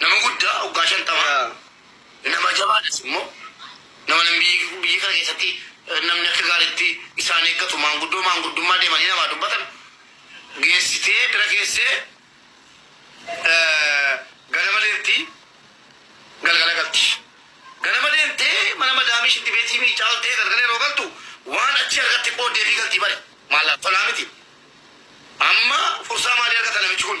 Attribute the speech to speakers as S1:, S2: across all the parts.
S1: Nama guddaa waggaa shantama nama jabaadhas immoo nama namni biyya kana keessatti namni akka gaariitti isaan eeggatu maanguddoo maanguddummaa deemanii namaa dubbatan geessitee bira keessee ganama deemti galgala galti. Ganama deemtee mana madaamii shitti beetii miicaaltee galgala yeroo galtu waan achi argatte qooddeefii galtii bari maallaqa tolaa miti. Amma fursaa maalii argata namichi kun?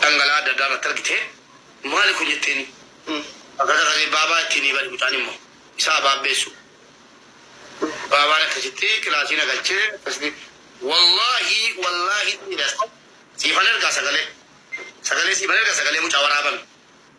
S1: dhangala'aa adda addaa irratti argite. Maali kun jetteeni. Akka sagalee baabaa ittiin hiibani mucaan immoo isa abaabbeessu. Baabaan akkasitti kilaasii na galchee akkasitti wallaahi wallaahi siifan ergaa sagalee sagalee siifan erga sagalee mucaa waraabame.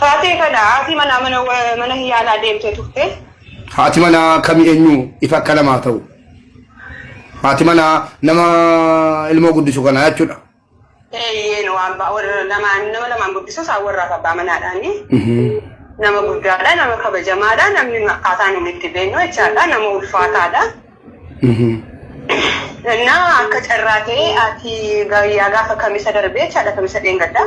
S2: Taatee
S3: kana haati manaa mana mana yaalaa deemtee turte. Haati manaa
S2: kami eenyu ifa akka namaa ta'u. Haati manaa nama ilmoo guddisu kanaa jechuudha. Eeyyeen waan ba'a warra
S3: lamaan nama lamaan guddisus haa warraaf abbaa manaadhaani. Nama guddaadha, nama kabajamaadha, namni akkaataa nuti itti beeknu jechaadha, nama ulfaataadha. እና akka carraa ta'e ati gayyaa gaafa kamisa darbee jechaadha kamisa dheengadda.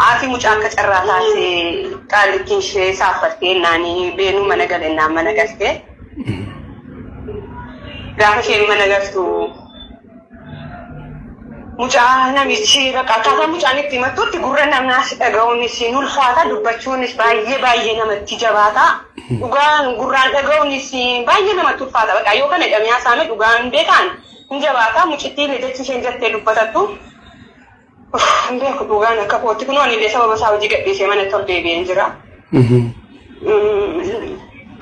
S3: Ati mucaa akka carraa taate qaalittiin ishee saaffattee naani beenuu mana galennaan mana galtee. Gaafa isheen mana galtu Mucaa namichi bakka akkaataa mucaan itti himattutti gurra namaas dhaga'uunis hin ulfaata dubbachuunis baay'ee baay'ee namatti jabaata. Dhugaan gurraan dhaga'uunis baay'ee namatti ulfaata bakka yoo kana jedhamee haasa'ame dhugaan beekaan hin jabaata mucittiin jechi isheen jettee dubbatattu. Hin beeku dhugaan akka kootti kunoo ani illee sababa isaa hojii gadhiisee mana tol deebi'een jira.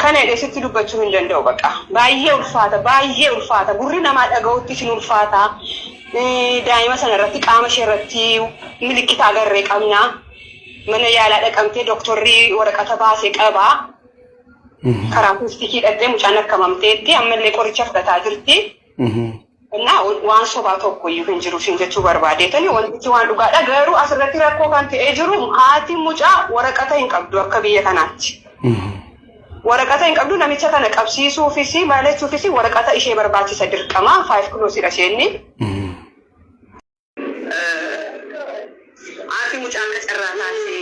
S3: Kana jedhee sitti dubbachuu hin danda'u baqa. Baay'ee ulfaata baay'ee ulfaata gurri namaa dhaga'uttis hin ulfaata. Daa'ima sana irratti qaama ishee irratti milikkita agarree qabna. Mana yaalaa dhaqamtee dooktorri waraqata baasee qaba. Karaa kuustikii dhaqxee mucaan akkamamteetti ammallee qoricha fudhataa jirti. እና waan sobaa tokko iyyuu hin jiru siin jechuu barbaadeetani wantichi waan dhugaadha garuu asirratti rakkoo kan ta'ee jiru haati mucaa waraqata hin qabdu akka biyya kanaatti waraqata hin qabdu namicha kana qabsiisuufis maalachuufis waraqata ishee barbaachisa dirqama faayif kiloosidha isheenni Haati mucaa akka carraa taate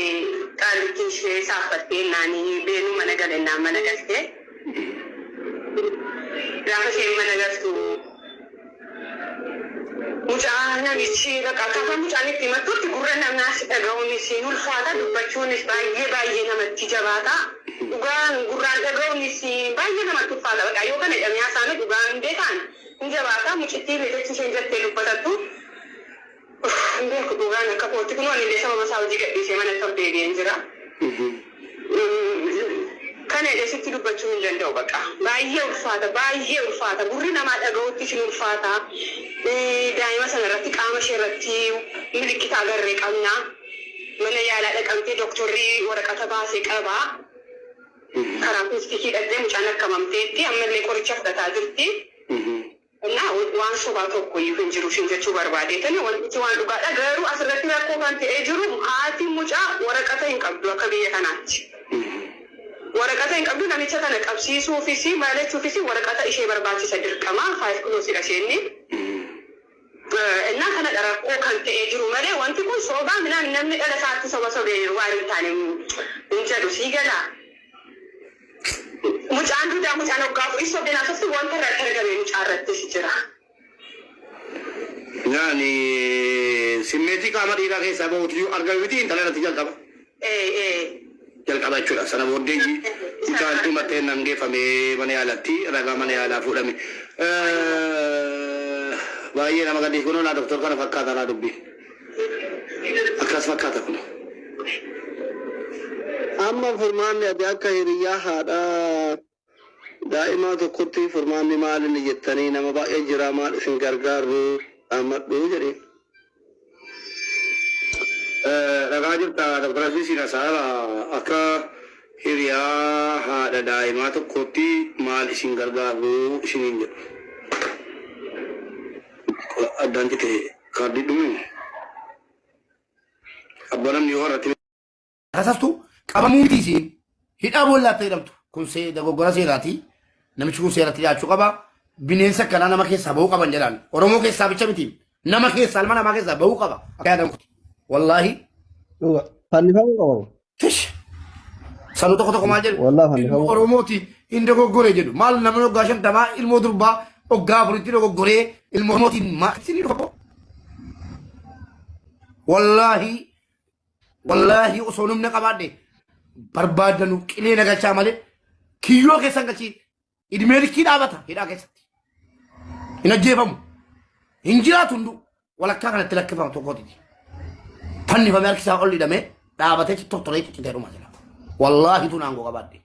S3: qaallittiin ishee saaffattee ennaan Beenuu mana gale ennaan mana galte. Gaafa isheen mana galtu mucaa namichi bakka akkaataa mucaan itti himattutti gurra namaas dhaga'uunis hin ulfaata dubbachuunis baay'ee baay'ee namatti jabaata. Dhugaan gurraan dhaga'uunis baay'ee namatti ulfaata. Bakka yoo kana jedhamee haasa'ame dhugaan beekaan Ni jabaata mucittiin jechi isheen jattee dubbatattu hin beeku dhuugaan akka kootti kunoo anillee sababa isaa hojii gadhiisee manatti ol deebi'een jira kana jedhee sitti dubbachuu hin danda'u baqa baay'ee ulfaata baay'ee ulfaata gurri namaa dhaga'uuttis hin ulfaata daa'ima sana irratti qaama ishee irratti milikkita agarre qabna mana yaalaa dhaqamtee doktorri waraqata baase qaba. Karaa piistikii dhaqxee mucaan akka mamteetti ammallee qoricha fudhataa jirti Innaa waan sobaa tokkoyyuu hin jiru ishiin jechuu barbaadeetani wantichi waan dhugaadha garuu asirratti rakkoo kan ta'ee jiru haati mucaa waraqata hin qabdu akka biyya kanaatti waraqata hin qabdu namicha kana qabsiisuufis maal jechuufis waraqata ishee barbaachisa dirqama five close dha isheenni Ennaa kanadha rakkoo kan ta'ee jiru malee wanti kun soobaa minaan namni dhala isaatti soba sobe waan hin taane hin jedhu sii galaa? Mucaan duudaa mucaan waggaa afurii sobdeen haasofti wanta irratti argame mucaa irrattis jira.
S1: Yaani simmeetii qaama dhiiraa keessaa bahuutu yoo argame miti intala irratti jalqaba. AA jalqaba jechuudha. Sana booddee ji, itaan dhuma xeennan geeffame mana yaalatti ragaa mana yaalaa fuudhame. Baay'ee nama gaddisi kunoo laa doktor kana fakkaata laa dubbiin. Akkas fakkaata kun.
S4: Amma furmaanni ati akka hiriyyaa haadhaa Daa'imaa tokkotti furmaanni maal inni jettanii nama baay'ee jira maal isin gargaarru dhaammadhu jedhiin.
S1: Dhagaa jirta Dr. Asii siin asaara akka hiriyaa haadha daa'imaa tokkootti maal isin gargaarru isiniin jedhu. Addaan cite kaardii dhume. Abba namni yoo har'atti Rasastu
S2: qabamuu miti isiin hidhaa boollaatta jedhamtu kun see dogoggora seeraati namichi kun seeratti dhiyaachuu qaba bineensa kanaa nama keessaa bahuu qaban jedhaan oromoo keessaa bicha miti nama keessaa ilma namaa keessaa bahuu qaba akka yaadan kuti wallaahi Dhuga.
S4: Fannifamuu qabamu. tish
S2: sanuu tokko tokko maal jedhu Wallah ilmoo fannifamuu. oromooti
S4: hin
S2: dogoggore jedhu maal namni oggaa shantamaa ilmoo durbaa oggaa afuritti dogoggoree ilmoo oromootiin maal isinii dhufa wallaahi Wallaahi osoo humna qabaadhe barbaadanu qilee na galchaa malee kiyyoo keessan galchiin idmee likkii dhaabata hidhaa keessatti. Hin ajjeefamu. Hin jiraatu hunduu walakkaa kanatti lakkifamu tokkootiti. Fannifamee harkisaa ol hidhamee dhaabatee tortoree ciccitee dhuma jira. Wallaahi tun aangoo qabaadhe.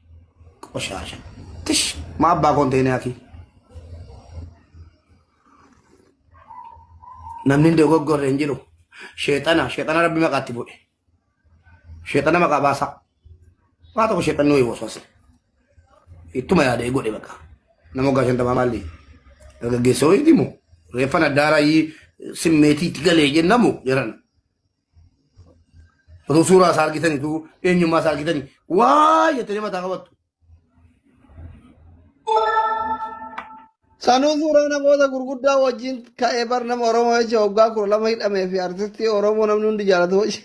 S2: Qoshaasha. Tish maa abbaa koon ta'e naafii. namni hin dogoggorre hin jiru sheexana sheexana rabbi maqaatti bu'e sheexana maqaa baasaa waa tokko sheexan nuyi waswase ittuma yaadee godhe baqa nama waggaa shantamaa maalli dargaggeessa ho'iiti moo reeffan addaaraa simmeetiitti galee jennamu jedhan Utuu suuraa isaa argitanii utuu eenyummaa isaa argitanii waa jettanii mataa qabattu.
S4: Sanuu suuraa namoota gurguddaa wajjin ka'ee bar nama Oromoo jecha waggaa kudha lama hidhamee fi artistii Oromoo namni hundi jaalatu wajjin.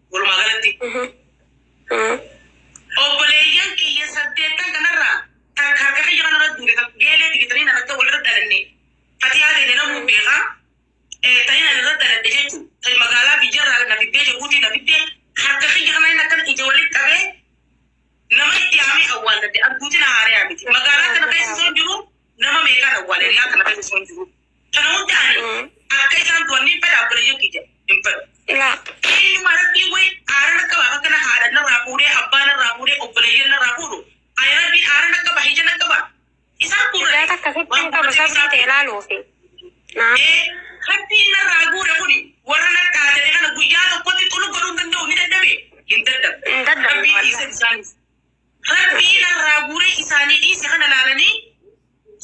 S3: Walumaa galatti obboleeyyan kiyya saddeettan kanarraa takka harka kiyya kanarra duute takka geelee digitanii narratti walirra dhalanne fatiyaa ta'e namuu beeka Eh, ta'in ani irra dhaladhe jechuun ta'e magaalaa biyyarraa na fiddee jabuutii na fiddee harka kiyya kana inni akkan ija walitti qabee nama itti haamee awwaalladhe arguuti na haaree haamiti magaalaa kana keessa osoo hin jiru nama meeqaan awwaale riyaa kana keessa osoo hin jiru. Kana hundaani akka isaan du'an ni fedha obboleeyyan kiyya hin fedhu. Eenyuma rabbiin wayi aaran akka baaf akkana haadha narraa fuudhee abbaa narraa fuudhee obboleeyyan narraa fuudhu ani rabbiin aaran akka baa hijan akka baa isaan Ijaa guurrate takka sitti waan hin qabu guurrate sabrii ta'e isaaf ilaaluufi. Naa. ee rabbiin narraa guure kuni warra nadhaa jedhe kana guyyaa tokkotti xulu godhuu hin danda'u ni dadhabe hin dadhabe Hin dadhabne rabbii wallahi. dhiise isaaniif rabbii narraa guure isaanii dhiise kana laalanii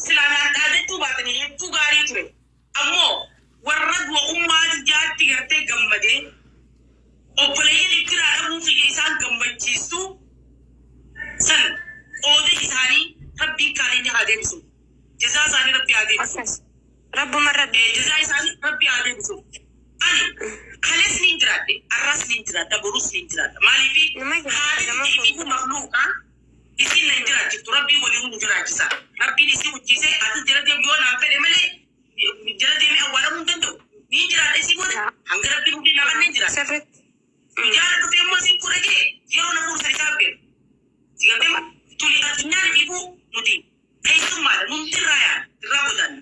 S3: Silaa naan dhaadachuu baatanii hedduu gaarii ture. Ammoo warra du'a ummaa tiyyaatti gartee gammadee obboleeyyan iffiraa dhabuu kiyya isaan gammachiissu san qooda isaanii Rabbiin kaaninya haa deebisuuf. Jazaa isaanii Rabbi haa deebisuuf. Akkas. Rabbuma Rabbi. Eh, jazaa isaanii Rabbi haa deebisuuf. Ani kalees niin jiraadhe, arras niin jiraadha, borus niin jiraadha. Maaliifi Numa jiraadha, haati nama tiyya kun. iyyuu makluuqa Isiin na hin jiraachiftu rabbiin waliinuu nu jiraachisaa rabbiin isii hojjiisee atis jala deem yoo naan fedhe malee jala deemee awwaalamuu hin danda'u niin jiraadha isii booda hanga rabbiin umrii naa kenneen jiraadha guyyaarra dhufee immoo isiin fuudha jee yeroo na fuudhu san isaa hin beeku si galtee moo tuni addunyaan ifiifuu nuti keessummaadha nuun dirraa yaana dirraa godaanna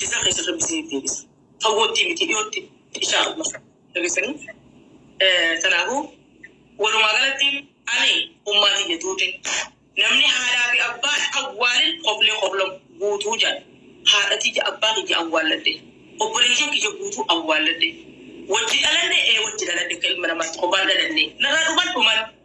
S3: Jazaa keessan rabbi isiniif deebisa. Fagoottii miti dhiyootti inshaa Allah dhageessanii. Kanaafuu walumaa galatti ani ummaa tiyya duute namni haadhaa fi abbaa hin awwaalin koflee kofla guutuu jedha. Haadha tiyya abbaa kiyya awwaalladhe. Obboleeyyan kiyya guutuu awwaalladhe. Wajji dhalanne ee wajji dhalanne akka ilma namaatti kophaan dhalanne. Narraa dhuman dhuman.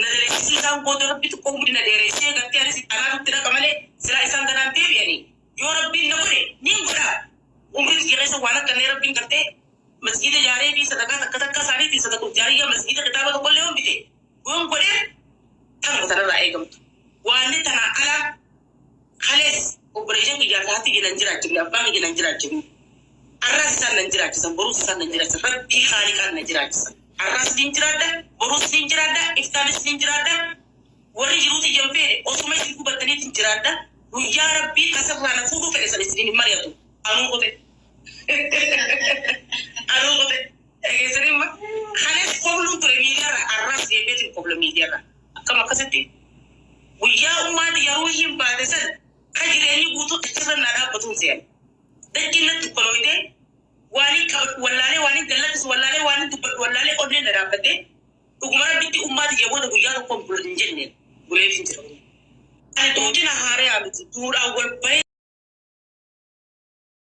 S3: Na dhereessise isaan booda Rabbitu koo umrii na dheereessee gartee anis itti anaa nutti dhaqa malee silaa isaan ganaan deebi'anii yoo Rabbiin na godhe niin godha umrii tiyya keessa waan argannee Rabbiin gartee masjiida ijaaree fi sadaqaa takka takkaa isaaniitiin sadaqul jaariyyaa masjiida kitaaba tokkollee yoon bite yoon godheef tanuma tanarraa eegamtu waanni tanaa ala Kalees obboleeyyan kiyyaa ka haati kiyya nan jiraachifne, abbaan kiyya nan jiraachifne. Arraas isaan nan jiraachisan, boruus isaan nan jiraachisan. Rabbii Khaaliqaan na jiraachisa. Arraas niin jiraadha, boruus niin jiraadha, iftaanis niin jiraadha. Warri jiruu tiyya hin feene osuma isin hubattaniitiin jiraadha. Guyyaa Rabbiin as irraa na fuudhuu fedhe san isiniin hin mari'atu. Anuu kute. Anuu kute. Dhageessanii amma kanas kobluun ture miidiyaarra arras deebi'eetiin kobla miidiyaarra akkam akkasitti guyyaa ummaan tiyya ruuhiin baate san ka jireenyi guutuu achi san naa dhaabbatuun seena. Dachii natti dukkanoyte waaniin qabadhu
S5: wallaalee waaniin gallakkisu wallaalee waaniin dubbadhu wallaalee onneen na dhaabbattee dhuguma rabbitti ummaa tiyya booda guyyaa tokkoon bula hin jenne bulee hin jira. Ani duuti na haaree haa miti duudhaan wal bahee